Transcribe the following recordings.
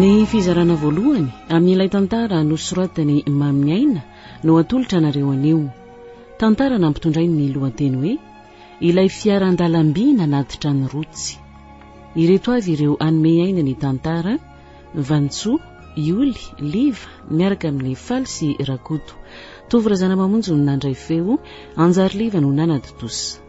Ny fizarana voalohany amin'ilay tantara nosoratan'i Mamy Aina no atolotra anareo anio. Tantara nampitondray ny lohateny hoe Ilay fiaran-dalamby nanatitra ny rotsy. Ireto avy ireo hanome aina ny tantara, Vanintsoa, Ioly, Liva, miaraka amin'ny Faly sy Rakoto. Tovo Razanamamonjy no nandray feo, Anjariliva no nanaditosa.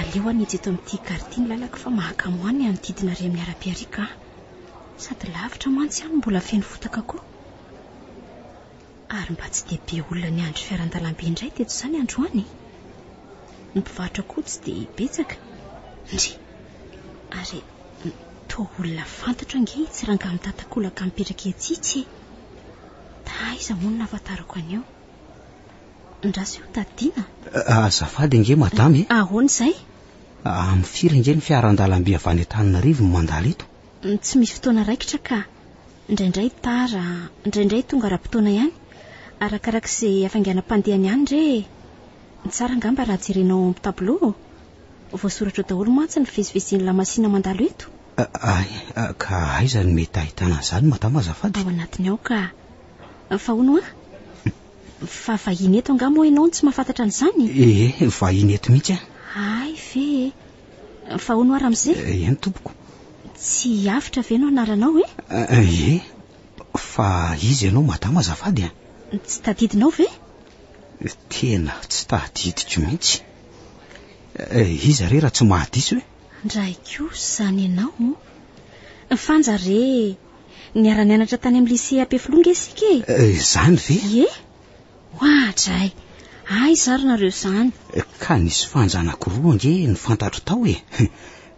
Aleo any ijeto amin'ity gare ity ny lalako fa mahakamo any hanodidina ary amin'ny arabe ariaka an! Sady lavitra mantsy an no mbola feno fotaka koa. Ary mba tsy dia be olona niandry fiara an-dalambe indray teto izany androany e! Ny mpivarotra koa tsy dia betsaka. Ndry! Ary toa olona fantatro ange itsy rangahy mitatakolaka mipetraka etsy itsy e! Taiza moa no nahafantarako an'io? Ndraso io Tatiana. Azafady ange madama e. Ahoana izay? Amin'ny firy ange ny fiaran-dalamby avy any Antananarivo no mandalo eto? Tsy misy fotoana raikitra ka. Indraindray tara, indraindray tonga ara-potoana ihany. Arakaraka izay hafainganam-pandehany ihany re e. Tsara angamba raha jerenao ao amin'ny tableau ô. Voasoratra ao daholo mantsy ny fivezivezen'ny lamasina mandalo eto. Ay, ka aiza no mety ahitana an'izany madama azafady? Ao anatiny ao ka. Fa hono an? Fa vahiny eto angaha moa ianao no tsy mahafantatra an'izany? Ee, vahiny eto mihitsy aho. Hay ve e! Fa hono aho ramose? Eny tompoko. Tsy Avotra ve no anaranao e? Ee, fa iza ianao madama azafady a? Tsy tadidinao ve? Tena tsy tadidiko mihitsy. Iza re raha tsy mahadiso e? Ndray kosa izany ianao. Fanja re! Niara-nianatra tany amin'ny lycée Ampefiloha nge isika e. Eh, izany ve? Ie? Hoatray. Aiza ary nareo izany? Eh, ka nisy fanja anankiroa nge ny fantatro tao e.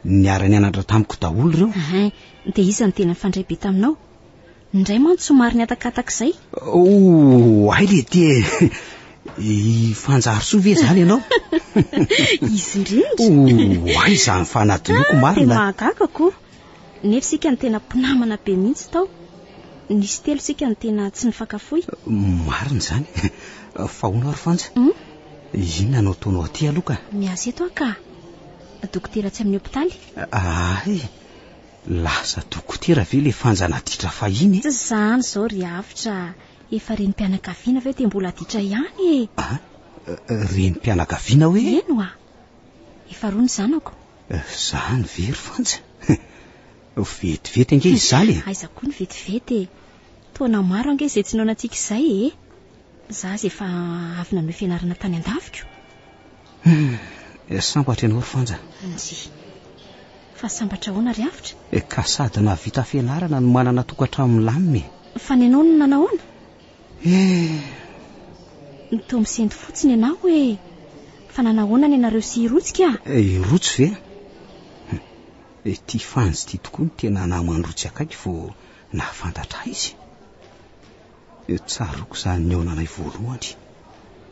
Niara-nianatra tamiko daholo ireo. Ahay, dia iza no tena fandray be taminao? Indray mantsy somary nihatakataka izay. Oh, hay le ty e. I Fanjarisoa ve izany ianao? Izy indrindra. Oh, hay izany fanadinoako marina. Tena mahagaga koa. Nefo isika no tena mpinamana be mihitsy tao, nisy telo isika no tena tsy nifankafoy. Marina izany. Fa hono ary Fanja, inona no ataonao aty aloha ka? Miasa eto aho ka. Dokotera tsy amin'ny hopitaly. Ahay! Lasa dokotera ve ilay Fanja naditra fahiny e? Tsy izany izao ry Avotra, efa renim-pianakaviana ve dia mbola aditra ihany e! An? Renim-pianakaviana hoe? Eny hoa! Efa roa ny zanako. Izany ve ry Fanja? Vetivety ange izany e! Aiza koa ny vetivety e! Taona maro ange izay tsy noanantsika izay e! Izaho aza efa avy nanohy fianarana tany an-daviko. Hmm, sambatra ianao ry Fanja. Anji. Fa sambatra ahoana ry Avotra? Eh, ka sady nahavita fianarana no manana tokantrano milamina e! Fa ny anao no nanahoana? Hum. Toa misento fotsiny ianao hoe fa nanahoana ny anareo sy Irotsy ka? Eh, Irotsy ve? Hum. Ity Fanjy ity tokoa no tena naman-drotsy akaiky vao nahafantatra ahy izy. Tsaroako izany nihaonanay voalohany.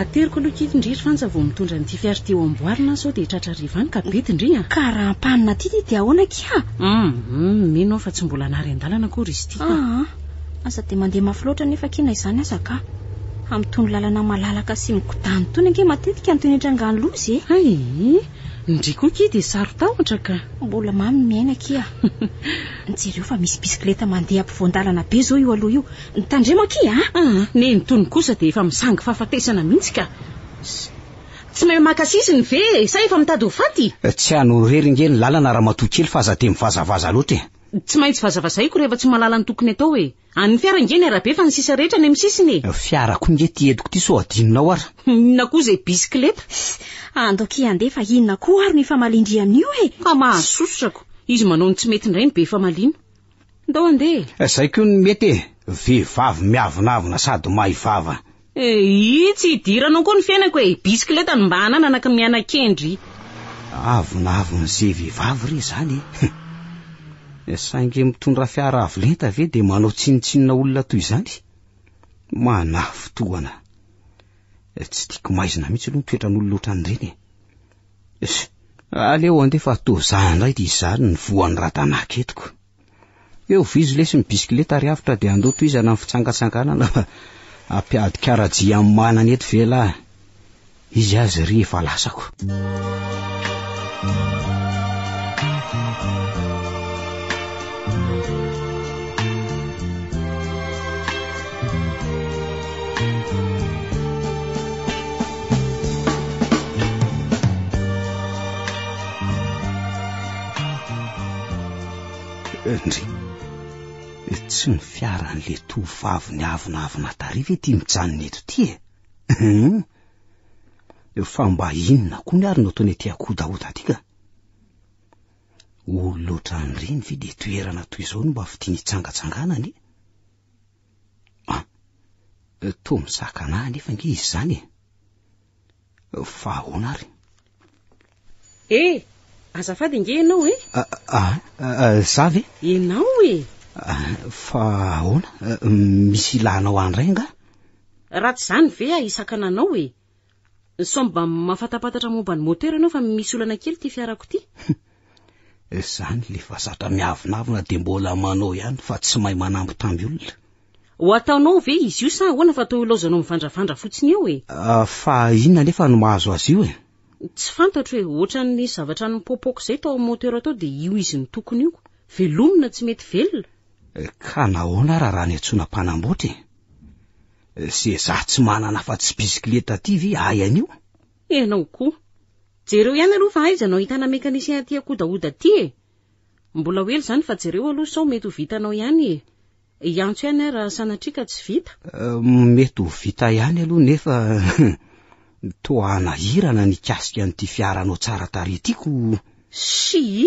Ateriko aloha kit ndry ry Fanja vao mitondra an'ity fiara ity ho amboarina an sao dia tratra hariva any ka bedy ndry a! Ka raha ampanina aty ty dia ahoana akia a! Hum hum mino aho fa tsy mbola nary an-dalana akory izy ity ka! Aa! Aza dia mandeha mafy loatra anefa akia na izany aza ka! Amin'itony lalana malalaka sy migodàna itony ange matetika no tenitrangan'ny loza e! Hay! Ndry koa akia dia saro-tahotra ka! Mbola mamy ny miaina akia a! Jereo fa misy bisikileta mandeha ampovoan-dalana be izao io aloha io! Tandremo akia a! Ah, neny tony kosa dia efa misangy fahafatesana mihitsy ka! Ss, tsy mahay maka sisiny ve e? Sa efa mitady ho faty? Tsy anao irery ange ny lalana ramatoa kely fa aza dia mivazavaza loatra e! Tsy maintsy vazavazaiko rehefa tsy mahalala ny tokony atao e! An'ny fiara ange ny arabe fa ny sisa rehetra any amin'ny sisiny e! Fiara koa nge ity entiko ity sao adinonao ara! Inona koa izay bisikileta? Ss, ando akia andeha fa inona koa ary ny famalin-dry amin'io e! Fa mahazo sososako! Izy manao ny tsy mety indray ny be famalino! Ndao andeha e! Zay koa no mety e! Vehivavy miavonavona sady mahay vava. E, ii, tsy hidiranao koa ny fiainako e! Bisikileta no mba hananana ka miana-kendry. Avonavona ze vehivavy re zany e! Hum! E, saingy mitondra fiara avo lenta ve dia manao tsinontsinona olona toy izany? Manafo tohana! E, tsy tiako maizina mihitsy aloha ny toetran'olona ohatran'ireny e! Aleo andefa atozaha indray ity izany ny voan'ny ratanaka etiko. Eo vizo lesy ny bisikileta ary avotra dia andoha tohizana ny fitsangatsanganana fa ampiady karajia amin'ny manana eto ve lahy. Izy azy ry efa lasako. Ndry, tsy ny fiaran'le tovovavy ny avonavona tary ve ty mijanona eto ty e? Hmm? Fa mba inona koa ny ary no ataony aty akodahoda aty ka? Olo loatra an'ireny ve de toerana toy izao no mba fitiany hitsangatsanganany? Ah, toa mizaka anà anefa nge izy izany e. Fa ahoana ary? Eh, azafady nge ianao e. Ah, ah, ah, za ve? Ianao e. Ah, fa ahoana? Ah, misy ilànao andray nga? Raha tsy izany ve ahisakana anao e. Sao mba mafatapatatra momba ny moteur ianao fa misy olana kely ity fiarako ity. Izany le fa zatra miavonavona dia mbola manao ihany fa tsy mahay manambitamby olona. Ho ataonao ve izy io sa ahoana fa toa ilaozanao mivandravandra fotsiny eo e? Ah, fa inona anefa no mahazo azy io e? Tsy fantatro e, ohatran'ny zavatra nipopoka izay tao amin'ny moteur tao dia io izy no tokony io. Velomina tsy mety velona. Ka nahoana ary raha niantsoana mpanamboatra e? Ze za tsy manana afa-tsy bisikileta ty ve ahy anio? Ianao koa. Jereo ihany aloha fa aiza no ahitana mécanicien aty akodahoda aty e. Mbola ho ela izany fa jereo aloha sao mety ho vitanao ihany e. Hiantso ihany aho raha sanatria ka tsy vita. Mety ho vita ihany aloha nefa toa hanahirana nikasika an'ity fiaranao tsara tarehy ity ko. Shii!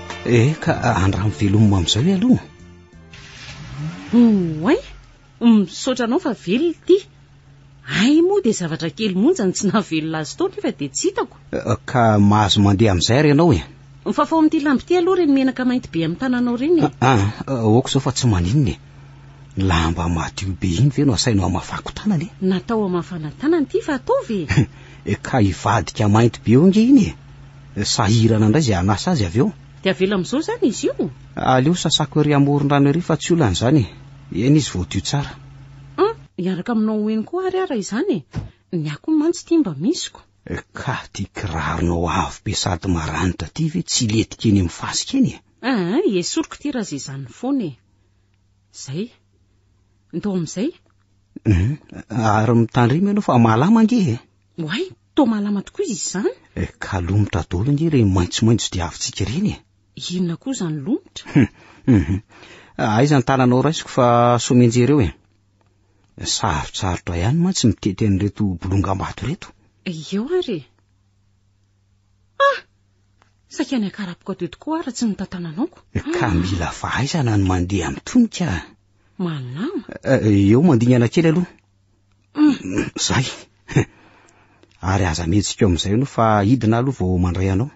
Eh ka andramo velomina amin'izao e aloha. Oay, misaotra anao fa velona ity. Ay moa dia zavatra kely monja ny tsy nahavelona azy tao nefa dia tsy hitako. Eh, ka mahazo mandeha amin'izay ary ianao e. Mifafao amin'ity lamba ity aloha ireny menaka mainty be amin'ny tananao ireny e. Ah, ah, aoka izao fa tsy maninona e. Lamba madio be iny ve no asainao hamafako tanana e? Natao hamafana tanana ity fa ataovy e! Eh, ka hivadika mainty be eo ange iny e! Eh, sahirana indray izay hanasa azy avy eo. Dia avela amin'izao izany izy io? Aleo sasako ery amoron-drano ery fa tsy olana izany e! Eny izy voadio tsara. An, hiaraka aminao eny koa ary aho raha izany e! Ny ahy koa mantsy ity mba misiko. Eh, ka ity kiraronao avo be sady maranitra ity ve tsy hilentika eny amin'ny fasika eny e? An, esoriko ity raha izay izany foana e! Zay. Ndao amin'izay. Mhm. Ary mitandrema ianao fa malama ange e. Oay, toa malama tokoa izy izany. E, eh, ka lomotra dolo ange ireny maitsomaitso dia avintsika ireny e. Inona koa izany lomotra? Mhm. Aiza ny tananao raisiko fa somenjereo e. Sarotsarotra ihany mantsy mitety an'ireto bolongam-bato ireto. Eo ary e. Ah! Saika ny hakarapoko teo tokoa aho raha tsy notantanana aoko. Ka mila fahaizana ny mandeha amin'ny tonika. Manama. Eh, eh, eo mandingana kely aloha. Mm. Zay. Ary aza mihetsika amin'izay no fa hidina aloha vao mandray anao.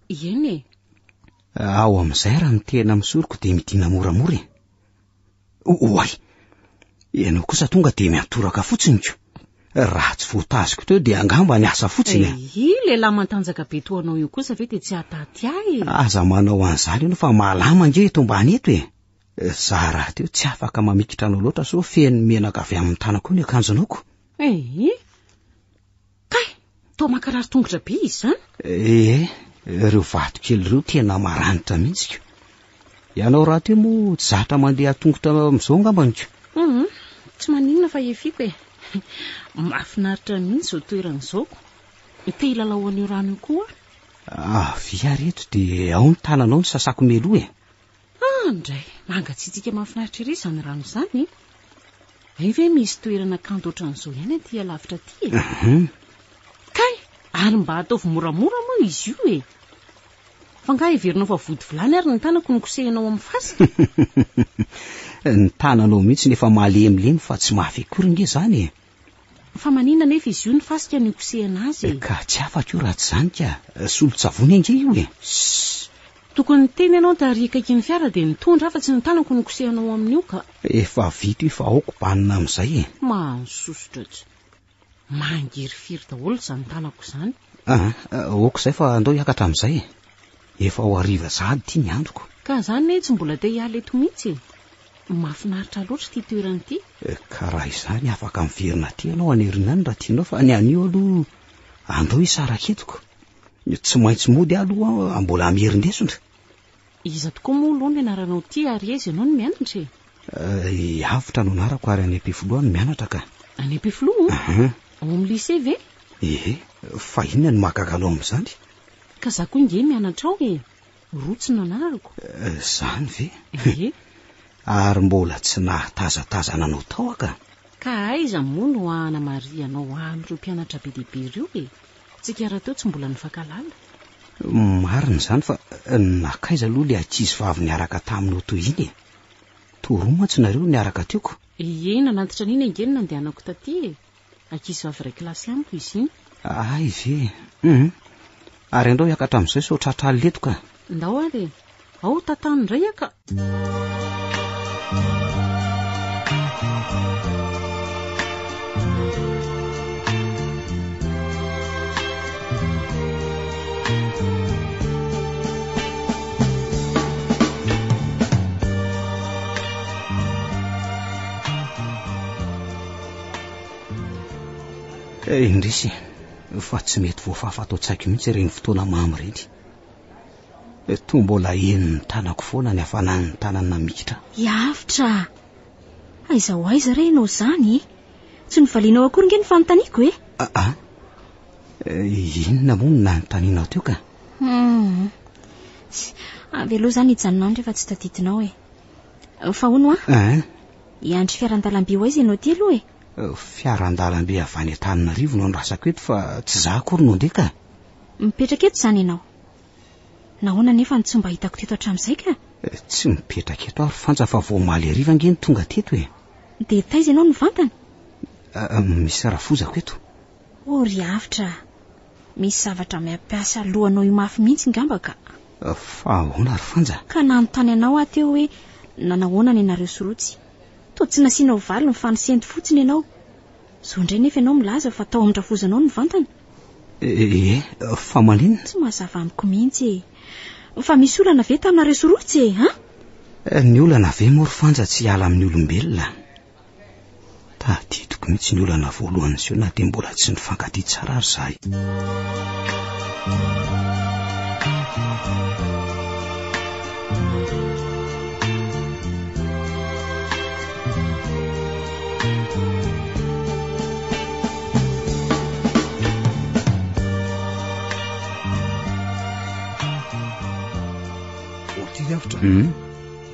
Eny e. Ao amin'izay raha ny tena misoroko dia midina moramora e. Oay! Ianao kosa tonga dia miantoraka fotsiny ko. Raha tsy voataziko teo dia angamba ny asa fotsiny a. Eh, io lehilahy mantanjaka be toa anao io kosa ve dia tsy hataty ahy e? Aza manao an'izany ianao fa malama ange eto ambany eto e. Za rahateo tsy afaka mamikitra anao loatra sao feno menaka avy amin'ny tanako eo ny akanjonao ko. Eh, Kay! Toa mankarary tongotra be izy izany. Ee, ireo vatokely ireo tena maranitra mihitsy ko. Ianao rahateo moa tsy zatra mandeha an-tongotra amin'izao angambany ko. Mhm, tsy maninona fa efiako e. Mahafinaritra mihitsy izao toerana izao ko. Te hilalao an'io rano io koa aho. Avia ary eto dia ao ny tananao no sasako mialoha e. Ah ndray, mangatsiatsiaka mahafinaritra ery izany rano izany. Hay ve misy toerana kanto ohatran'izao ihany aty alavitra aty e? Kay, ary mba ataovy moramora moa izy io e. Fa ngaha heverinao fa vody vilany ary ny tanako no kosehinao amin'ny fasika? Ny tananao mihitsy no efa malemilemy fa tsy mafy akory nge izany e. Fa manina anefa izy io ny fasika no ikosehana azy e! Ka tsy afaka io raha tsy izany ka! Solon-tsavony ange io e! Ss! Tokony niteny ianao tary akaikin'ny fiara dia nitondra aho fa tsy ny tanako no kosehanao amin'io ka! Efa vita io fa aoka banina amin'izay e! Mahasosotra tsy! Mangirifiry daholo izany tanako izany! Ah, ok izay fa andao hiakatra amin'izay e. Efa ho hariva sahady ity ny androko. Ka za anie tsy mbola te hiala eto mihitsy e. Mahafinaritra loatra ity toerana ity. Ka raha izany afaka miverina aty ianao any aoriana any raha tianao fa ny anio aloha andao hisaraka eto ko. Tsy maintsy mody aho aloha mbola miherin-desona. Iza tokoa moa aloha no ianaranao ity ary aiza ianao no mianatra e? I Avotra no anarako ary any Ampefiloha no mianatra ka. Any Ampefiloha? Aha. Ao amin'ny lycée ve? Ee, fa inona no mahagaga anao amin'izany? Ka za koa nge mianatra ao e! Rotsy no anarako. Zany ve? Ee. Ary mbola tsy nahatazatazana anao tao aho ka! Ka aiza moa no hanamarihana ao amin'ireo mpianatra be dia be ireo e? Tsika rahateo tsy mbola nifankalala. Marina izany fa nakaiza aloha ilay ankizy vavy niaraka taminao toy iny e? Toa roa mantsy nareo no niaraka teo ko. Ie, nanantitra an'iny ange ny nandehanako taty e! Ankizy vavy iray kilasy amiko izy iny. Hay ve? Hum. Ary andao hiakatra amin'izao sao tratra alina eto ka. Ndao ary e! Ao tantano indray aho ka! Eh, indrisy fa tsy mety voafafa ato an-tsaiko mihitsy ireny fotoana mamy ireny. Toa mbola henon'ny tanako foana ny hafanan'ny tanany namikitra. Hiavotra! Aiza ho aiza re ianao izany e? Tsy novalianao akory nge ny fanontaniako e? Aa, ah, eh, inona moa no nanontanianao teo ka? Hmm. Avy aloha izany hijanona any rehefa tsy tadidinao e. Fa hono ah? Ah? Hiandry fiarandalamby ho aiza ianao ity aloha e? Fiarandalamby avy any Antananarivo no andrasako eto fa tsy za akory no ndeha ka. Mipetraka eto izany ianao? Nahoana anefa no tsy mba hitako teto hatramin'izay ka? Tsy mipetraka eto aho ry Fanja fa vao omaly hariva ange no tonga teto e. Dia taiza ianao no vantany? Misy rafozako eto. Oh ry Avotra a! Misy zavatra miampiasa lohanao io mafy mihitsy ngamba ka. Fa ahoana ry Fanja? Ka nanontany anao aho teo hoe nanahoana ny anareo sy Rotsy. Toa tsy nasianao valiny fa nisento fotsiny ianao. Zo indray nefa ianao milaza fa tao amin-drafozanao ny vantana? Ee, fa maninona? Tsy mazava amiko mihitsy e! Fa misy olana ve taminareo sy Rotsy e, an? Eh, ny olana ve moa ry Fanja tsy hiala amin'ny olombelona? Tadidiko mihitsy ny olana voalohany niseho na dia mbola tsy nifankatia tsara ary izahay.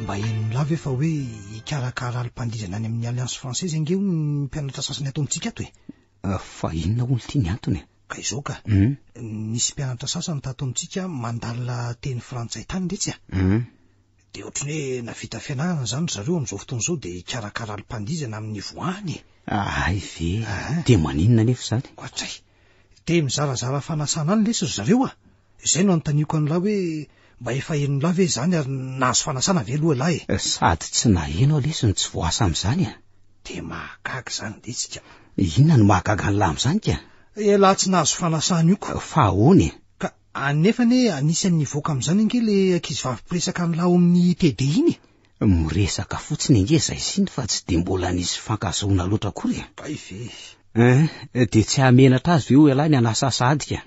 mba enonlah ve fa hoe hikarakara alim-pandizana any amin'ny alliance française ange ho ny mpianatra sasany ato amintsika ato e ah, fa inona olo tia ny antony e? ka izao ka hmm? nisy mpianatra sasany tato amintsika mandalina teny frantsay tany retsy a hmm? Dia ohatran'ny hoe navita fianarana izany ry zareo amin'izao fotoana izao dia hikarakara alim-pandihizana amin'ny niveau any e! Ahay ve? Ahay. Dia maninona anefa izany? Koatsay, te mizarazara fanasana any lesy ry zareo a! Izay no anontaniako an'lah hoe mba efa henon'lah ve izany ary nahazo fanasana ve aloha lah e! Sady tsy naheno aho lesy ny tsy voasa amin'izany a! Dia mahagaga izany ve tsika? Inona no mahagaga an'lah amin'izany ka? Elah tsy nahazo fanasana io ka! Fa ahoana e? Ka Anefa anie anisan'ny hivoaka amin'izany ange ilay ankizivavy mpiresaka an'lah ao amin'ny TD iny e! Miresaka fotsiny ange izay siny fa tsy dia mbola nisy fankazahoana loatra akory e! Kay ve e! Eh, dia tsy hamenatra azy ve ho elah ny hanasasa adika?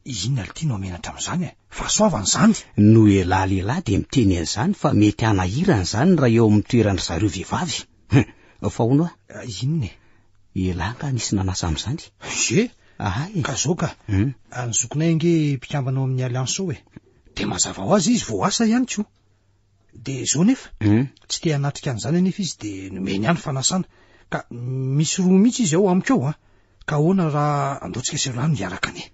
Inona lty no hamenatra amin'izany e! Fahasoavana izany! No elah lehilahy dia miteny an'izany fa mety hanahirana izany raha eo amin'ny toeran-dry zareo vehivavy. Hum, fa hono ah, inona e? Elah nga nisy nanasa amin'izany. Ze, Aha e. ka zao ka, Hum. any zokinay ange mpikambana ao amin'ny Alliance ao e. Dia mazava ho azy izy vao asa ihany koa. Dia zao nefa, Hum. tsy te hanatrika an'izany anefa izy dia nomeny ahy ny fanasana. Ka misy roa mihitsy izy ao amiko ao an. Ka ahoana raha andaontsika sy Rano hiaraka anie?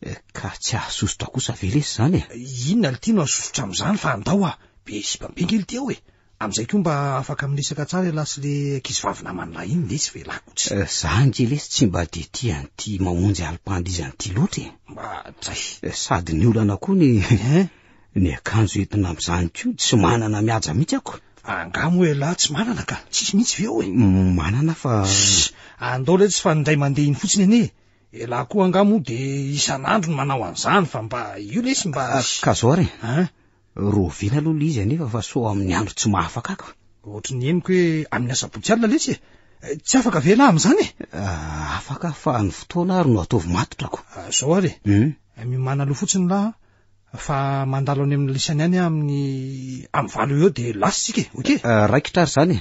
Eh, Ka tsy hahasosotra kosa ve lesy izany e? Inona lty no hasosotra amin'izany fa andao ah, be sipambe nge lty ao e. Amin'izay koa mba afaka miresaka tsara ialahy sy le ankizivavy naman'ilahy iny lesy ve ialahy ko tsy. Za nge lesy tsy mba de tia an'ity mamonjy alim-pandizany ity loatra e. Mba dray. Sady ny olana koa ny ny akanjo entina amin'izany koa tsy manana mihaja mihitsy ako. Angaha moa ialahy tsy manana ka? Tsisy mihitsy ve ao e? Manana fa. Andao lesy fa indray mandeha iny fotsiny anie e. Ialahy koa angaha moa de isan'andro no manao an'izany fa mba io lesy mba. Ka zao ary e. Rovina aloha le izy anefa fa sao amin'ny andro tsy mahafakaka. Ohatry ny henoko hoe amin'ny asabotsy alina lesy e. Eh, tsy afaka ve lahy amin'izany e? Ah, afaka fa ny fotoana ary no ataovy matotra ko. Ah, zao ary e. Hmm? Eh, miomana aloha fotsiny lahy fa mandalo any amin'ny lisany any amin'ny amin'ny valo eo dia lasa isika e. Okey? Ah, raikitra ary izany e.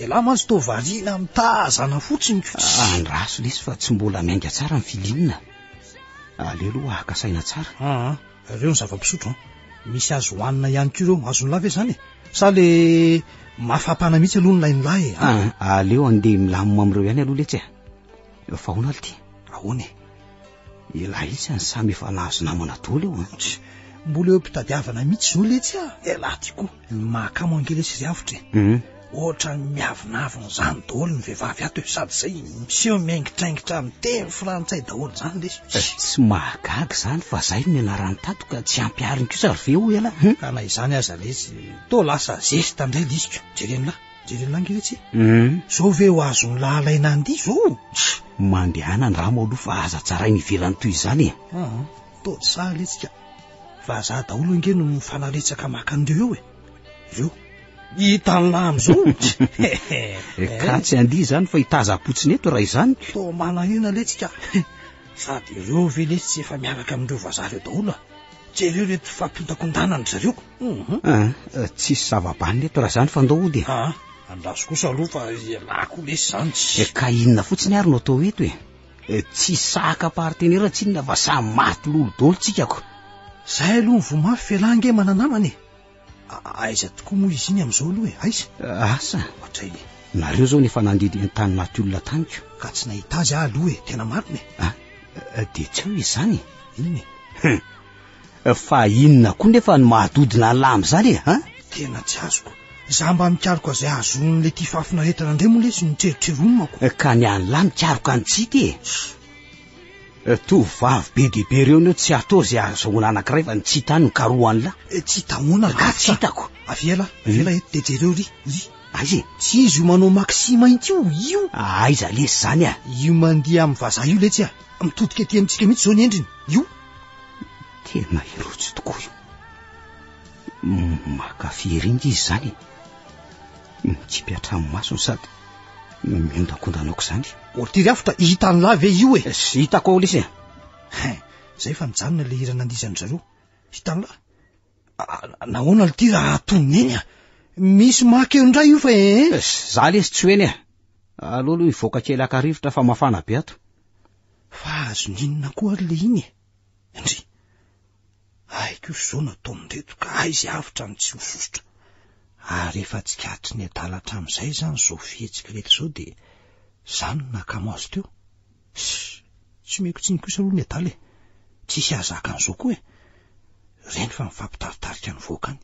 Ialahy mantsy toa variana amin'ny tazana fotsiny ko tsy. Andraso lesy fa tsy mbola miainga tsara ny filim a. Aleo aloha haka saina tsara. Aa, ireo ny zava-pisotro an. Misy azo hohanina ihany koa ireo. Azon'lah ve izany e? Sa le mafapana mihitsy aloha ny lain'lah e? Aa, aleo andeha milamina amin'ireo ihany aloha letsy a. Fa ahoana ary ity? Ahoana e? Elah etsy any samy efa nahazo namana dolo eo an. Tch, mbola eo am-pitadiavana mihitsy zol etsy a. Elah ty koa, ny mahakamo ange lesy izy avotra e. Hum. Ohatran'ny miavonavona zany dolo ny vehivavy ato e, sady zay miseho miaingitraingitra amin'ny teny frantsay daholo zany lesy. Tch. Tsy mahagaga zany fa zay no nianarany tato ka tsy ampihariny kosa ry ve o elah. Ka na izany aza lesy, toa lasa zesta ndray lisiko, jereo an'lah. Jereo langy ve tsy? Hum. Zao ve ho azon'ny lahalay nandihy zao? Tsy mandehana andramo aloha fa aza tsaraina ivelany toy izany e. Ah, toa tsy sahy letsika. Vazaha daholo ange no mifanaretsaka maka an'ireo eo e. Ireo. Hita ny lahy amin'izao. Ka tsy andihy izany fa hitazam-potsiny eto raha izany. Toa manahina letsika. Sady ireo ve letsy tsy efa miaraka amin'ireo vazaha ireo daholo? Jereo ireto fampiondakondana an-dry zareo. Ah, tsisy zava-baniny eto raha izany fa ndao hody e. Ah, andraso kosa aloha fa ialahy koa lesy izany tsy. Eh, ka inona fotsiny ary no atao eto e. Eh, tsy sahaka partenera tsinona fa samy maty lolo dolo tsika ko. Zay aloha ny voa mafy f'elah ange mananamana e. Aiza tokoa moa izy iny amin'izao aloha e? Aiza? Asa? Ohatr'aina. Nareo zao nefa nandidy an-tany maty olona taniko. Ka tsy nahita azy aho aloha e, tena marina e. Ah, dia tsy eo izany e. Inona e? Fa inona koa nefa ny mahadodina an'lahy amin'izany e, ha? Tena tsy azoko. Za mba mikaroka izay ahazoan'le tifafina aretina indray moa lesy ny tserotrerony mako. Ka ny an'lahy mikaroka an'i Tsity e. Eh, tovovavy be dia be ireo no tsy atao izay ahazoana anankiray fa ny tsy hita no karohan'lah. Eh, tsy hitahoana ka tsy hitako. Avela, hmm? avela eto dia jereo ry, ry. Aiza e? Tsy izy io manao maxi mainty io, io. Ah, aiza lesy izany ah? Io mandeha amin'ny vazaha io letsy ah. Mitodika aty amintsika mihitsy izao ny endriny. Io. Tena irotsy tokoa io. Makafy eringa izy izany. Mikipy an-tranomaso ny sady miondankondana aok'izany. Ortiz Hafitra, hitan'lah ve io e? Sy hitako ao lesy e. Hein, zay fa nijanona ilay hira nandizan'ny zareo. Hitan'lah. Nahoana aloha ty raha atonony eny a? Misy makeo indray io fa eh? eh za lesy tsy ho eny e. Aleo aloha hivoaka kely haka rivotra fa mafana be ato. Fa azon'inona koa ary le iny e? Ndry. Ay koa izao nataon'ireto ka ay izay avotra no tsy ho sosotra. Ary efa tsikaritry ny adala hatramin'izay izany izao fihetsik'ireto izao dia izaho no nakamo azy teo. Ssy! Tsy omeko tsiny kosa aloha ny adala e! Tsy hihazaka an'izao koa e! Reny fa mifampitaritarika nivoaka any.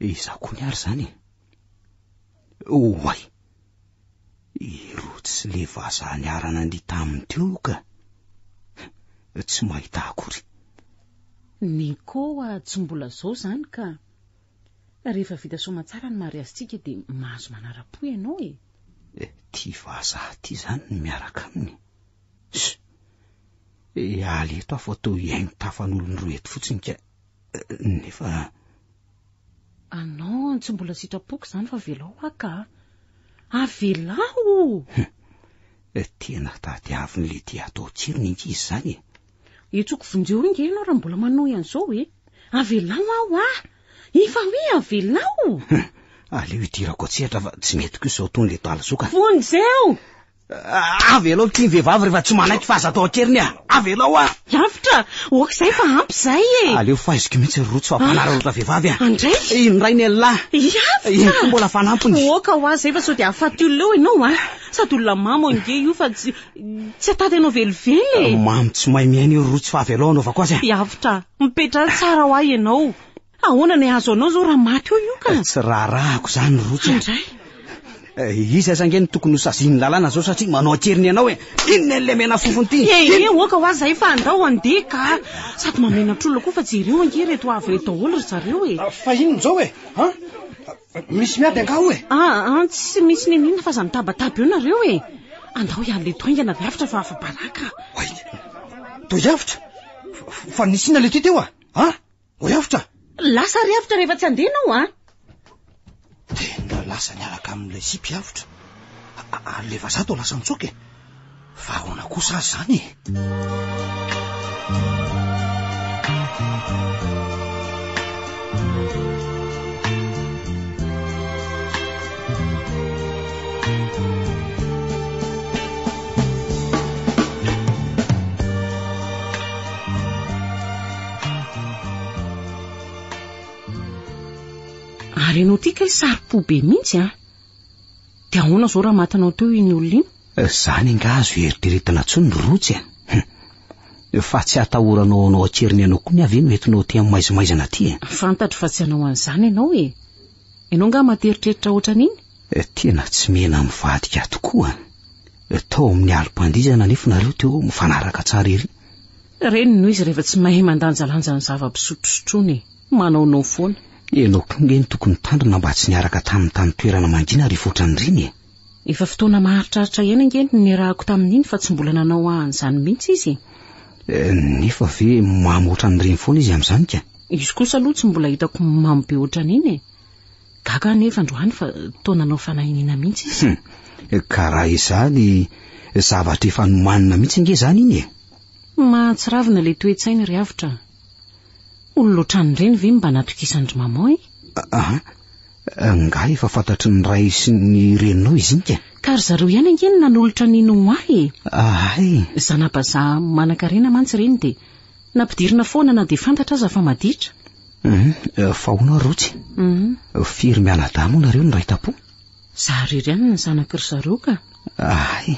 Izaho koa ny ary izany e. Oay! Ireo tsy le vazaha niara-nandihy taminy teo ka. Tsy mahita akory. Ny koa tsy mbola izao izany ka. Rehefa vita soamantsara ny mariazintsika dia mahazo manara-po ianao e. Ity vazaha ity izany no miaraka aminy. Sh! Ealy eto aho fa toa hihaino tafan'olon-droa eto fotsiny ka. Nefa... Ah non, tsy mbola sitrapoko izany fa velao haka a. Avelao! Eh, tena tadiaviny le tia atao tsirony inty izy izany e. Etsoko vonjeo inge ianao raha mbola manohy an'izao e. Avelao aho a! Efa hoe avelao! Aleo hidirako an-tsehatra fa tsy mety kosa izao tony le talizoka. Vonjeo! Avelao ity ny vehivavy rehefa tsy manaiky fa aza atao an-keriny a! Avelao a! Lavitra! Ok izay fa ampy izay e! Aleo faiziko mihitsy ry Rotsy fa mpanararaotra vehivavy a! Andray! Iny rainy elah! Lavitra! Iny koa mbola fanampiny! Ok hoa izay fa sao dia hahafaty olona eo ianao a! Sady olona mamo ange io fa tsy tsy hatady anao velively e! Mamo tsy mahay miaina io ry Rotsy fa avelao hanaovako azy a! Lavitra! Mipetraha tsara hoa ianao! Ahoana ny azo anao zao raha maty eo io ka? Eh, tsy raharahako zany Rotsy. Indray. Eh, iza aza nge no tokony ho sazin'ny lalàna zao satria manao akeriny ianao e. Eh. Inona ilay mena fofony ty? Eh, eh, eh oka hoa zay fa andao andeha ka. Sady mamenatr'olona koa fa jereo ange reto avy reto daholo ry zareo e. Ah, fa inona zao e? Ha? Misy miady angaho e. Ah, ah, tsy misy nenina fa za mitabataba eo nareo e. Andao ihany le toaingana avy avitra fa afa-baraka. Wait. Toy avitra? Fa nisy inona le ty teo ah? Ha? Ho riavotra! Lasa riavotra rehefa tsy andeha ianao an! Tena lasa niaraka amin'ilay sipy avotra. Ary le vazaha toa lasa nitsoaka e! Fa ahoana kosa azy izany e! Ary ianao ity kay saro-po be mihitsy an! Dia ahoana izao raha matinao teo iny olona iny? Izany eh, angaha azo eritreretina intsony ny rotsy an! Eh? Hm. Fa tsy hatahoranao anao an-keriny anao koa ny avy no entinao aty amin'ny maizimaizana aty eh? Fantatro fa tsy hanao an'izany ianao e! Ianao angaha materitreritra ohatran'iny? Eh, tena tsy mena mivadika tokoa. Tao amin'ny alim-pandizana anefa nareo teo mifanaraka tsara ery. Reny no izy rehefa tsy mahay mandanjalanja ny zava-pisotrosotroana e. Manaonao foana. Ianao koa nge no tokony nitandrina mba tsy niaraka taminy tany toerana mangina ry Foatraniriny e. Efa fotoana maharitraritra ihany ange no niarahako tamin'iny fa tsy mbola nanao an'izany mihitsy izy e. Nefa ve mamo ohatran'ireny foana izy amin'izany ka. Izy kosa aloha tsy mbola hitako mamo be ohatran'iny e. Gaga aho nefa androany fa toa nanao fanahiniana mihitsy izy. Hum, ka raha izany, zavatra efa nomanina mihitsy ange izany iny e. Mahatsiravina ilay toe-tsainy ry avotra a! Olona ohatran'ireny ve no mba natokisan-dry maman e? Aha, angaha efa fantatry ny ray sy ny reninao i Zinka? Ka ry zareo ihany ange no nanolotra an'i Noa e! Ahay! Zana-bazaha manankarena mantsy ireny dia nampidirina foana na dia fantatra aza fa maditra. Hum, fa hono ary Rotsy? Hum. Firy mianadahy moa nareo no ray tampo? Za irery ihany ny zanak'i ry zareo ka. Ay,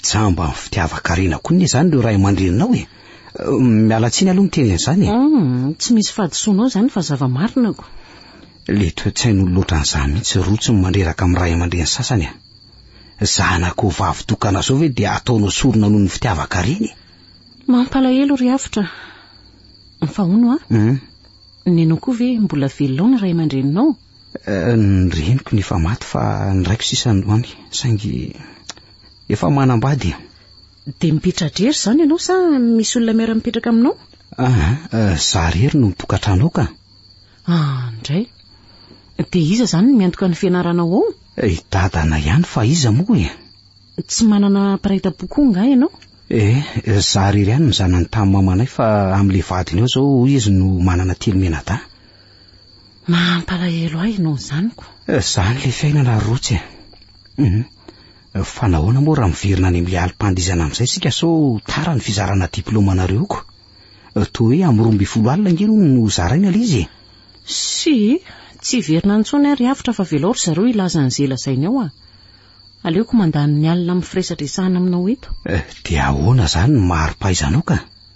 jamba ny fitiavan-karena koa ny izany ireo ray aman-dreninao e. Miala tsiny aloha miteny an'izany e. Hmm, tsy misy fahadisoanao izany fa zava-marina ko. Le toe-tsain'olo loatra an'izany mihitsy rotsiny mandreraka amin'ny ray aman-dreny sasany a. Zanakao vavy tokana zao ve dia ataonao sorona noho ny fitiavan-karena e. Mampalahelo ry Avotra. Fa hono a, hmm. nenao koa ve mbola velona ny ray aman-dreninao? Ny reniko ny efa maty fa ny raiko sisa androany saingy efa manambady e. Dia mipitra drery izany ianao sa misy olona miara-mipetraka aminao? Ah, ah, za rery no tokatranao ka. Ah, ndray. Dia iza izany no miantoka ny fianaranao ao? Eh, I dadana ihany fa iza moa e? Tsy manana mpiray tampo koa nga ianao? Eh, za rery ihany ny zanany tamin'ny mamanay fa amin'ilay vadiny ao izao hoy izy no manana telo menadahy. Mampalahelo ahy noho izany ko. Eh, zany le fiainana rotsy eh. Hum. Fa nahoana moa raha miverina any amin'ilay alim-pandihizana amin'izay isika sao tara ny fizarana diplaoma anareo ko. Eh, toa hoe amin'ny roa ambin'ny folo alina ange hono no zaraina ilay izy eh. Si, tsy hiverina intsony ary avotra fa avelao ry zareo hilaza an'izay lazainy ao ah. Aleoko mandany ny alina amin'ny firesadresahana aminao eto. Eh, dia ahoana izany ny mari-pahaizanao ka?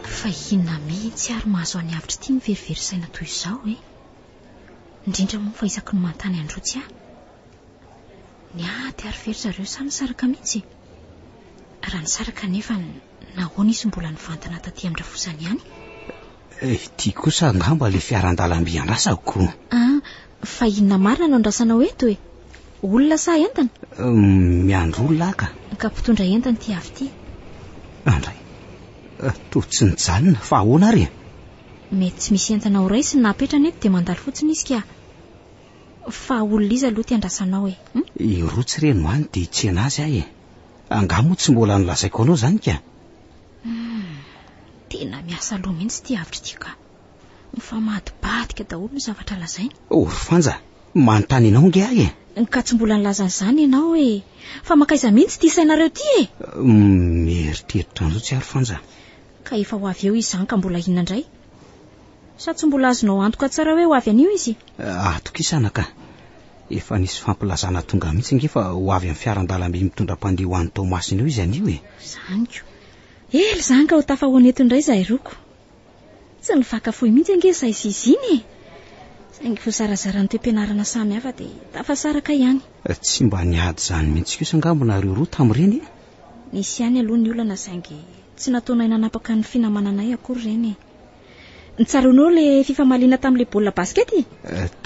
Fa inona mihitsy ary mahazo an'i Avitra ity miverivery saina toy izao e? Indrindra moa fa isaky ny manontany an-dRotsy aho. Ny ady ary ve ry zareo sa nisaraka mihitsy e? Raha nisaraka anefa nahoana izy mbola nivantana taty amin-drafozany ihany? Eh, ity kosa angamba ilay fiaran-dalamby andrasako. Ah, fa inona marina no andrasanao eto e? Olona sa entana? Miandry olona aho ka. Ka mpitondra entana ity avy ity. Andray. Eh, toa tsy nijanona, fa ahoana ary e? Mety tsy misy entana ho raisiny na apetrany eto dia mandalo fotsiny izy ka. Fa olona iza aloha ity andrasanao e? Hum? I Rotsy re no any dia hitsena azy aho e. Angaha moa tsy mbola nolazaiko anao izany ka? Hum, tena miasa loha mihitsy ity hevitra ity ka. Mifamadibadika daholo ny zavatra lazainy. Oh, ry Fanja, manontany anao nge ahy e! Ka tsy mbola nilaza an'izany ianao e! Fa mankaiza mihitsy ity sainareo ity e! Mieritreritra an'izao tsy ahy ry Fanja. Ka efa ho avy eo izy izany ka mbola inona indray? Sa tsy mbola azonao antoka tsara hoe ho avy anio izy? Atokisana ka! Efa nisy fampilazana tonga mihitsy nge fa ho avy amin'ny fiaran-dalamby mitondra mpandeha ho any Toamasina eo izy anio e! Izany ko! Ela izany ka ho tafahoana eto indray izahay roa ko! Tsy nivaka fohy mihitsy ange izahay sy i Zina e! Saingy voazarazara ny toe-pianarana samy hafa dia tafasaraka ihany. Tsy mba niady izany mihitsy kosa angamba nareo roa tamin'ireny e! Nisy ihany aloha ny olana saingy tsy nataonay nanapaka ny finamananay akory ireny e! Tsaroanao ilay fifamaliana tamin'ilay baolina basket e?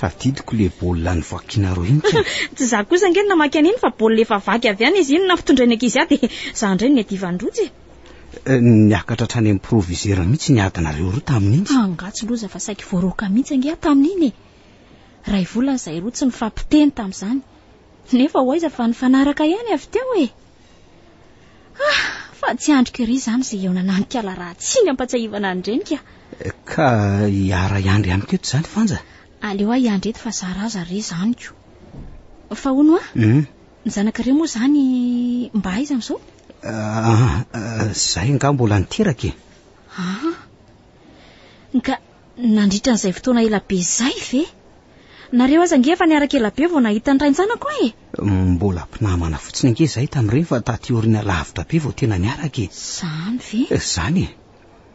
Tadidiko ilay baolina nivakinareo iny ka! Tsy izaho kosa ange no namaky an'iny fa baolina efa vaky avy any izy iny nampitondrain'ny ankizy ahy dia izaho indray no niadivan'ny rojo e! eh, niakatra hatrany amin'ny provisera mihitsy ny adinareo roa tamin'iny angatsy loza fa saiky voaroaka mihitsy angeha tamin'iny e ray volana izay roa tsy nifampiteny tamin'izany nefa ho aiza fa nifanaraka ihany avy teo e ah fa tsy andriko iry izany izay eo nananikala raha tsy ny ampatsahivana andrenika eh, ka hiara iandry amiko eto izany fanja aleo aho iandry eto fa zaraza re zaniko fa hono a hmm? Ny zanakareo moa izany mba aiza amin'izao? Ah, izay nga mbola niteraka e. Ah, ka nandritra an'izay fotoana ela be izay ve? Nareo aza nge efa niaraka ela be vao nahita ny rain-janako e. Mbola mpinamana fotsiny nge izay tamin'ireny fa taty aoriana lavitra be vao tena niaraka e. Izany ve? Izany e.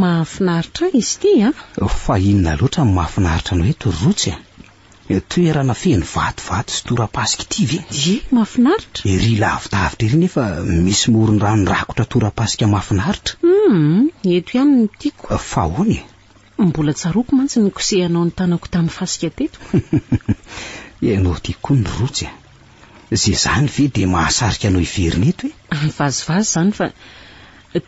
Mahafinaritra ahy izy ity an! Fa inona loatra no mahafinaritra anao eto ry Rotsy a? Toerana feno vatovato sy tora-pasika ity ve? Ie, mahafinaritra! Ery lavidavitra ery nefa misy morondrano rakotra tora-pasika mahafinaritra. Humm, eto ihany no tiako. Fa ahoana e? Mbola tsaroako mantsy ny kosehanao ny tanako tamin'ny fasika teto. Ianao ity koa ny rotsy a. Izay izany ve dia mahasarika anao hiverina eto e? Vazivazy izany fa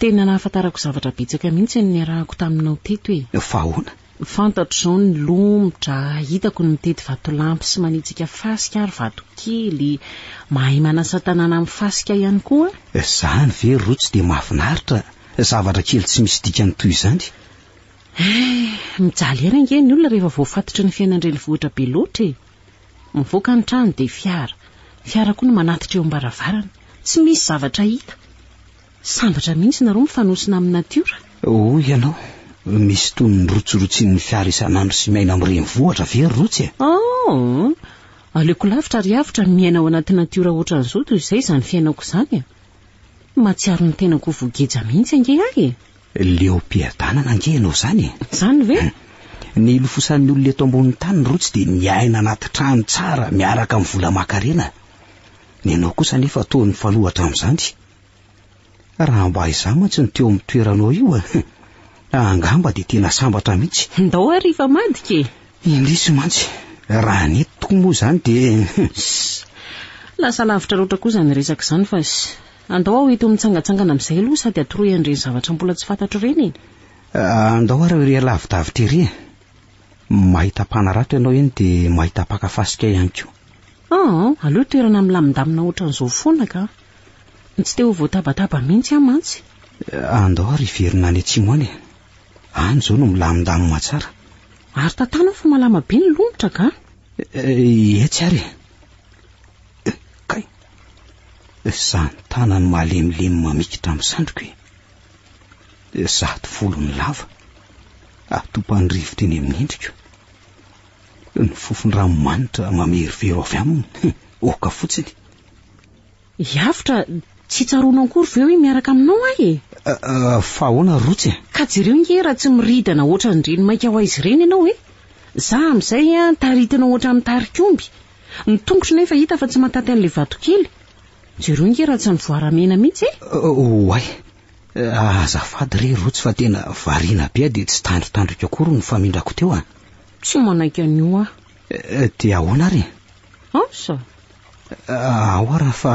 tena nahafantarako zavatra betsaka mihitsy ny niarahako taminao teto e. Fa ahoana? Fantatro izao ny lomotra hitako ny mitety vatolampy sy manitsika fasika ary vatokely, mahay manasa tanàna amin'ny fasika ihany koa. Izany ve rotsy dia mahafinaritra, zavatra kely tsy misy dikany toy izany? Hay, mijaly aina ange ny olona rehefa voafatotry ny fiainan-drenivohitra be loatra e! Mivoaka ny trano dia fiara, fiara koa no manatitra eo am-baravarana, tsy misy zavatra hita! Sambatra mihitsy nareo mifanosona amin'ny natiora! Hoy ianao, misy tony ny rotsirotsian'ny fiara isan'andro sy miaina amin'ny renivohitra ve ry Rotsy e? Oh! Aleoko lavitra ary avotra ny miaina ao anaty natiora hoatran'izao toy izay izany fiainako izany e! Mahatsiaro ny tenako ho voageja mihitsy ange ahy e! Leom-piadanana ange ianao izany e! Izany ve? Nilofosan'ny olona eto ambonin'ny tany ny rotsy dia niaina anaty trano tsara miaraka amin'ny vola aman-karena. Ny anao kosa anefa toa nifanoha hatramin'izany. Raha mba izaho mantsy no teo amin'ny toeranao io, angamba dia tena sambatra mihitsy. Ndao ary hifamadika e! Indrisy mantsy, raha ny eto tokoa moa izany dia. Lasa lavitra loatra kosa izany resaka izany fa. Andao aho eto mitsangatsangana amin'izay aloha sady atoroy an'ireny zavatra mbola tsy fantatro ireny e! Andao ary ery alavi-davitra ery e! Mahita mpanarato ianao eny dia mahita mpaka fasika ihany koa. Aa! Aleo toerana milamindamina ohatran'izao foana ka! Tsy te ho voatabataba mihitsy aho mantsy. Andao ary hiverina any atsimo any e! Any izao no milamindamima tsara. Ary tantano fa malama be ny lomotra ka! Etsy ary e! Kay! Izaho ny tanany malemilemy mamikitra amin'ny sandriko e. Izaho ty volony lava, atopany rivotra eny amin'ny endriko. Ny fofon-dranomanitra mamerovero avy aminy, oka fotsiny. Hiavotra, tsy tsaroanao akory ve hoe miaraka aminao aho e? Ah, ah, fa ahoana Rotsy e? Ka jereo nge raha tsy miridana hoatran'ny renimaika ho aizy ireny ianao e. Izaho amin'izay an, taritinao hoatran'ny tarikomby. Ny tongotro nefa hita fa tsy mataty an'ilay vatokely. Jereo nge raha tsy ny voaramena mihitsy e! Oay! Azafady re Rotsy fa tena variana be aho dia tsy tandrotandriko akory ny famindrako teo an! Tsy manaiky an'io aho. Dia ahoana ary? Asa? Ahoa raha fa.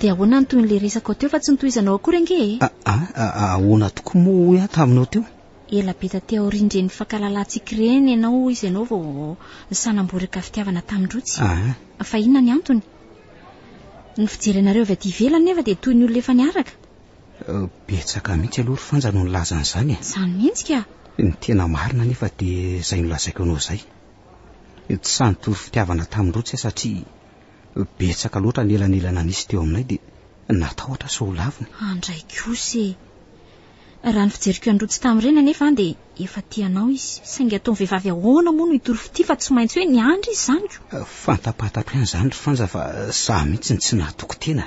Dia ahoana ny tohin'ilay resakao teo fa tsy notohizanao akory ange e? Ah, ah, ah, ah ahoana tokoa moa hoy aho taminao teo? Ela be taty aorian'ireny nifankalalahantsika ireny ianao hoy izy ianao vao nisanamboraka fitiavana tamin-drotsy. Ah, Fa inona ny antony? Ny fijery anareo avy aty ivelany nefa dia toy ny olona efa niaraka. eh, betsaka mihitsy aloha ry Fanja no nilaza an'izany e. Izany mihitsy ka! Ny tena marina nefa dia izay nolazaiko anao izay. Tsy nitory fitiavana taminy loatra aho satria betsaka loatra ny elanelana nisy teo aminay dia natahotra sao ho lavina. Andray kosa e! Raha ny fijeriko an'i Rotsy tamin'ireny anefa an dia efa tia anao izy, saingy ataon'ny vehivavy ahoana moa no hitory fitia fa tsy maintsy hoe niandry izy izany ko! Fantapatatro ihany izany ry Frantsa fa za mihitsy no tsy nahatoky tena.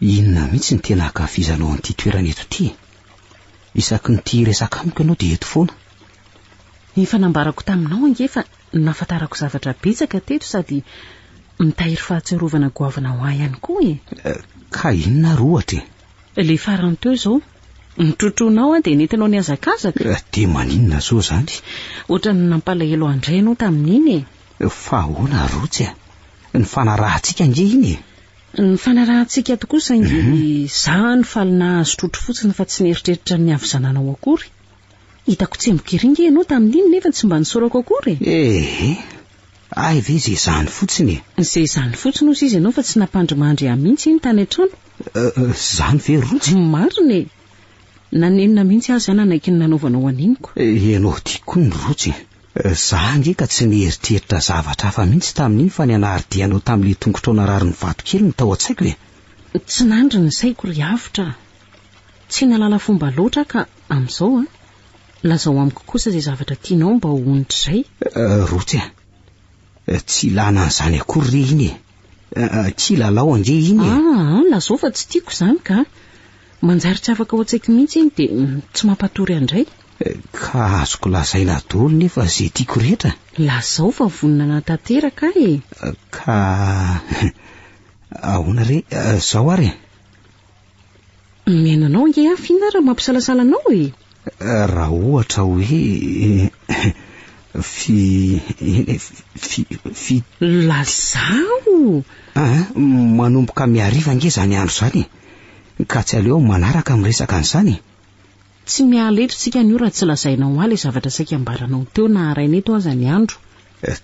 Inona mihitsy ny tena ankafizanao an'ity toerana eto ity e? Isaky ny tia hiresaka amiko ianao dia eto foana. Efa nambarako taminao ange fa nahafantarako zavatra betsaka teto sady mitahiry fahatsiarovana goavana ho ahy ihany koa e! Ka inona ary ohatra e? Ilay farany teo izao, notrotroinao aho dia nentinao nihazakazaka. Dia maninona izao izany? Ohatran'ny nampalahelo an-dry ianao tamin'iny e! Fa ahoana ary Rotsy a? Ny fanarahantsika ange iny e! Ny fanarahantsika ato kosa ange dia izaho no faly nahazo trotro fotsiny fa tsy nieritreritra ny havizananao akory. Hitako tsemboka ery ange ianao tamin'iny nefa tsy mba nisaorako akory e! Ee, hay ve izay izany fotsiny e! Izay izany fotsiny hozy izy ianao fa tsy nampandrimandry ahy mihitsy iny tany an-trano. Izany ve Rojo? Marina e! Nanenina mihitsy aho izay nanaiky ny nanaovanao an'iny ko. Ianao ity koa ny Rojo e! Za ange ka tsy nieritreritra zavatra hafa mihitsy tamin'iny fa ny anaridianao tamin'ilay tongotr'aona rariny vato kely no tao an-tsaiko e! Tsy nandry ny saiko ry avotra a! Tsy nahalala fomba loatra aho ka amin'izao a! Lazao amiko kosa izay zavatra tianao mba ho onitr'izay. Rotsy a! Eh, tsy ilana an'izany akory re iny e. Eh, eh, tsy ilalao ange iny e. Ah, ah, lazao fa tsy tiako izany ka. Manjary tsy afaka ao an-tsaiko mihitsy iny dia mm, tsy mampatory andray. Eh, ka azoko lazaina daholo nefa izay tiako rehetra. Lazao fa vonona hanatanteraka aho e. Eh, ka ahoana re eh, izao ary e. Mihaino anao ange aho fina raha mampisalasala anao e. Raha ohatra hoe fi fi fi Lazao! Ah, manomboka mihariva ange izany andro izany e. Ka tsy aleo manaraka miresaka an'izany e. Tsy miala eto tsika anio raha tsy lazainao ahy ilay zavatra saika ambaranao teo na haraina eto aza ny andro.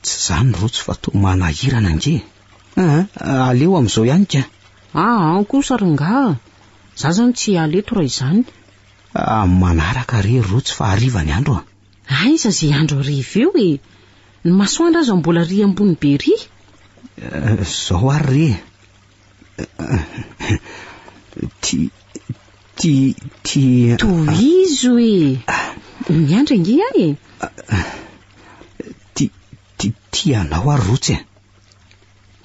Tsy izany Rojo fa toa manahirana ange e. Aa, aleo amin'izao ihany ka. Aa, an kosa ry ngaha, za zany tsy hiala eto raha izany. Aa, amin'ny manaraka re ry Rotsy fa hariva ny andro a. Aiza ze andro hariva eo e! Ny masoandro aza mbola ry ambony be ry. Zao ary re. Ti, ti, ti. Tohizo e! Miandry ange aho e. Ti, ti, ti anao ary Rotsy a.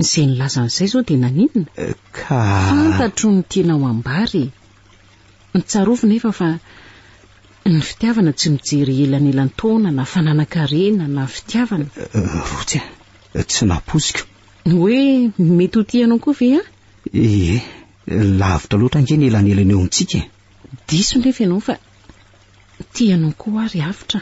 Izay nilaza an'izay izao dia naninona? Ka. Fantatro ny tianao hambara e. Tsarovy nefa fa ny fitiavana tsy mijery elanelan-taona na fananan-karena na fitiavana. Rotsy a, tsy nampoiziko. Hoe mety ho tianao koa ve aho? Ie, lavitra loatra ange ny elanelana eo amintsika e. Diso nefa ianao fa tianao koa aho ry Avotra.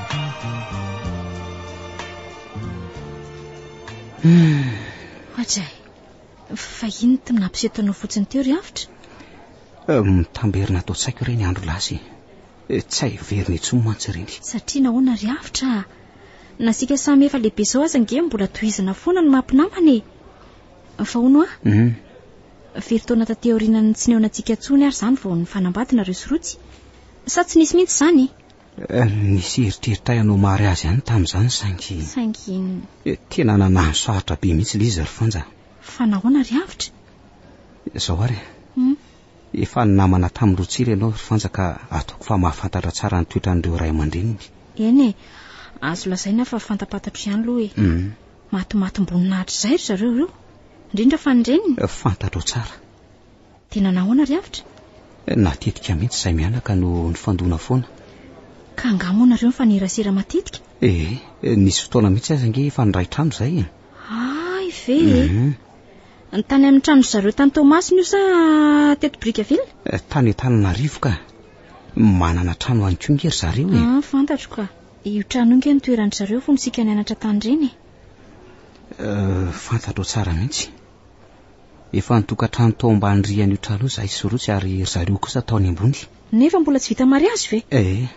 Ajay, fa inona tena nampiseho tanao fotsiny teo ry Avotra? Eh, mitamberina ato an-tsaiko ireny andro lasa e. Eh, tsy hay verina intsony mantsy ireny. Satria nahoana ry Avotra? Nasika samy efa lehibe izao aza nge mbola tohizana foana ny mampinamana e. Fa hono a? Mhm. Firy taona taty aorianan'ny tsy neonantsika intsony ary izany vao nifanambady nareo sy Rotsy? Sa tsy nisy mihitsy izany? Nisy eritreritray hanao mary azy ihany tamin'izany saingy... Saingy inona? Tena nanano sarotra be mihitsy ilay izy ry Fanja. Fa nahoana ry Avotra? Izao ary e. Hum? Efa namana tamin'i Rotsira ianao ry Fanja ka ataoko fa mahafantatra tsara ny toetran'ireo ray aman-dreniny. Eny e, azo lazaina fa fantapantatro ihany aloha e. Hum. Matimatim-boninahitra izay ry zareo ireo, indrindra fa ny reniny. Fantatrao tsara. Tena nahoana ry Avotra? Na tetika mihitsy izay mianaka no nifandona foana. Ka angaha moa nareo nifanerasera matetika? Ee, nisy fotoana mihitsy aza ange efa niray trano izay e. Hay ve e! Hum. Tany amin'ny trano zareo tany Toamasina io sa teto Brickaville? Eh, tany Antananarivo ka. Manana trano ihany koa nge ry zareo e. Ah, fantatro ka. Io trano io nge no toeran-dry zareo fony isika nianatra tany ireny e. Eh, fantatrao tsara mihitsy. Efa nitokantrano tao ambany rihan'io trano io izahay sy Rotsy ary ry zareo kosa tao any ambony. Nefa mbola tsy vita mariazy ve? Ee.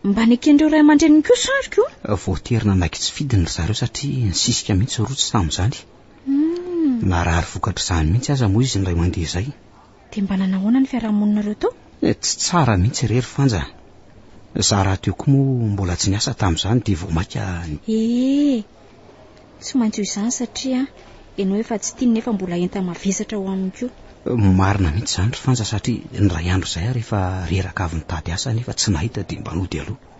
Mba neken'ireo ray aman-dreniny koa sa ry ko? Voatery nanaiky tsy fidiny ry zareo satria nisisika mihitsy Rotsy tamin'izany. Narary vokatr'izany mihitsy aza moa izy indray mandeha izay. Dia mba nanao ahoana ny fiarahamoninareo teo? Eh, tsy tsara mihitsy re ry Fanja. Za rahateo koa moa mbola tsy niasa tamin'izany dia vao maika ni-. Eh, tsy maintsy ho izany satria ianao efa tsy tiany nefa mbola enta-mavesatra ho aminy koa. Marina mihitsy izany ry Fanja satria ny iray andro izay ary efa reraka avy nitady asa nefa tsy nahita dia mba nody aloha.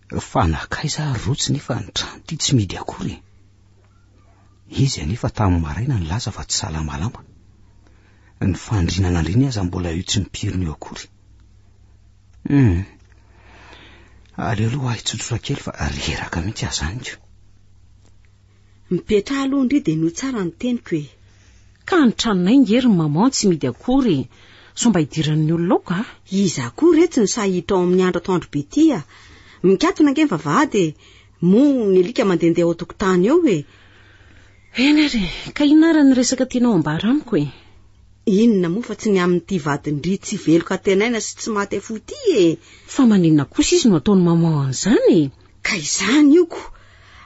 Fa nakaiza ary rotsy nefa ny trano ity tsy midy akory e. Izy anefa tamin'ny maraina nilaza fa tsy salamalama. Ny fandriana nandriany aza mbola io tsy mipirina io akory. Hmm. Aleo aloha ahy tsotsotra kely fa reraka mihitsy azaniko. Mipetraha aloha ndry dia noho tsara ny teniko e. Ka ny tranonay nge ry maman tsy midy akory e. Sao mba idiran'ny olona ao ka. Iza akory re tsy nisahy hiditra ao amin'ny andro atoandro be ity a. Mikatona nge ny vavahady e. Moa ny alika mandehandeha ao an-tokotany ao e. Eny ary e. Ka inona ary ny resaka tianao ambara amiko e. Inona moa fa tsy ny amin'ity vadin-dry tsy velon-katenaina sy tsy maty afoy ity e. Fa maninona kosa izy no ataon'i maman an'izany e. Ka izany io ko!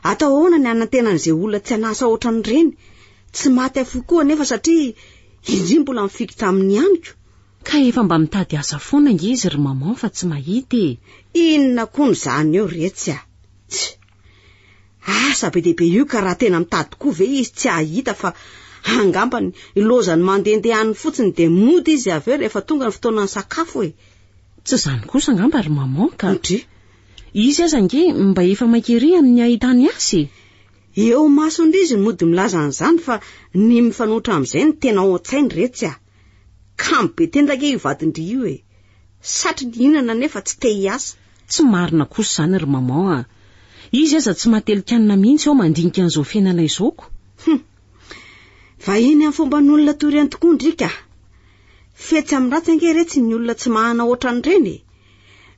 Atao ahoana ny hanantena an'izay olona tsy an'asa ohatran'ireny? Tsy maty afoy koa anefa satria indry mbola mifikitra aminy ihany ko! Ka efa mba mitady asa foana nge izy ry maman fa tsy mahita e! Inona koa no zany eo retsy a! Tsy! Asa be dia be io ka raha tena mitady koa ve izy tsy hahita fa angamba ny lozany mandehandeha any fotsiny dia mody izy avy eo rehefa tonga ny fotoanan'ny sakafo e! Tsy izany kosa angamba ry maman ka! Ndry! Izy aza ange mba efa maika ery amin'ny ahitany azy e! Eo masondry izy no mody milaza an'izany fa ny mifanohitra amin'izay no tena ao an-tsainy re tsy a! Kamo be tena ange io vadin-dry io e! Satry ny hihinana nefa tsy te hiasa. Tsy marina kosa izany ry maman a! Izy aza tsy mahatelin-kanina mihitsy ao mandinika an'izao fiainana izao ko! Hum! Vahiny amin'ny fomban'olona toy ireny tokoa ndry ka! Fetsy amin'ny ratsy ange re tsy ny olona tsy mahana hoatran'ireny e!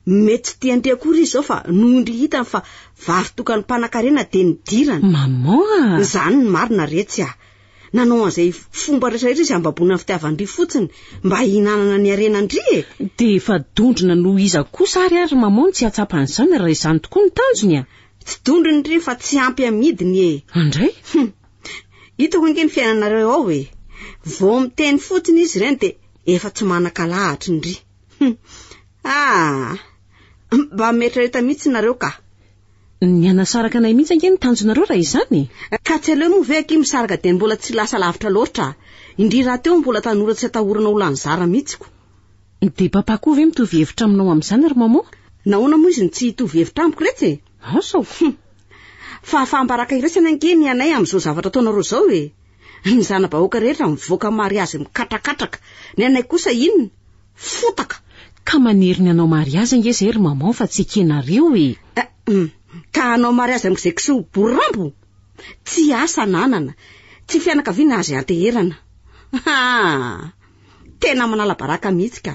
Mety tsy dia ndry akory izy zao fa noho ndry hitany fa vavy tokany mpanakarena dia nidirana. Maman a! Izany ny marina retsy a! Nanao an'izay fomba rehetra rehetra izy hambaboana ny fitiavan-dry fotsiny mba hihinanana ny harenan-dry e! Dia efa dondrona noho iza kosa ary ary maman no tsy hahatsapa an'izany raha izany tokoa no tanjony a! Tsy dondrony ndry fa tsy ampy amidiny e! Andray? Hum! Hitako ange ny fiainanareo ao e! Vao miteny fotsiny izy ireny dia efa tsy manankalahatra ndry. Ah! Mba miretraretra mihitsy nareo ka. Ny hanasaraka anay mihitsy ange ny tanjonareo raha izany. Ka tsy aleo moa ve akia misaraka dia mbola tsy lasa lavitra loatra, indrindra rahateo mbola tanora tsy atahorana ho lany zara mihitsiko. Dia papa koa ve mitovy hevitra aminao amin'izany ry maman? Nahoana moa izy no tsy hitovy hevitra amiko retsy e? Asaoko. Fahafaham-baraka iraisana ange ny anay amin'izao zavatra ataonareo izao e! Ny zana-bahoaka rehetra mivoaka mariazy mikatrakàtraka. Ny anay kosa inona? Fotaka! Ka maniry ny hanao mariazy ange izay ry maman fa tsy ekenareo e! Ahm! Ka hanao mariazy amin'izay kiseho borirambo? Tsy asa ananana, tsy fianakaviana azy anteherana. Haa! Tena manala baraka mihitsy ka!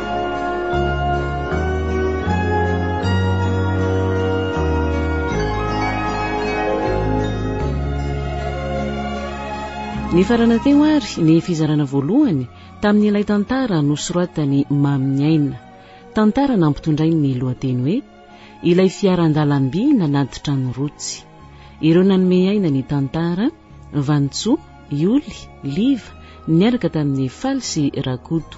Nifarana teo ary ny fizarana voalohany tamin'ilay tantara nosoratan'i Mamin'ny Aina. Tantara nampitondrainy ny lohateny hoe Ilay fiaran-dalamby nanady trano rotsy. Ireo nanome aina ny tantara, Vanintsoa, Ioly, Liva, niaraka tamin'i Faly sy Rakoto.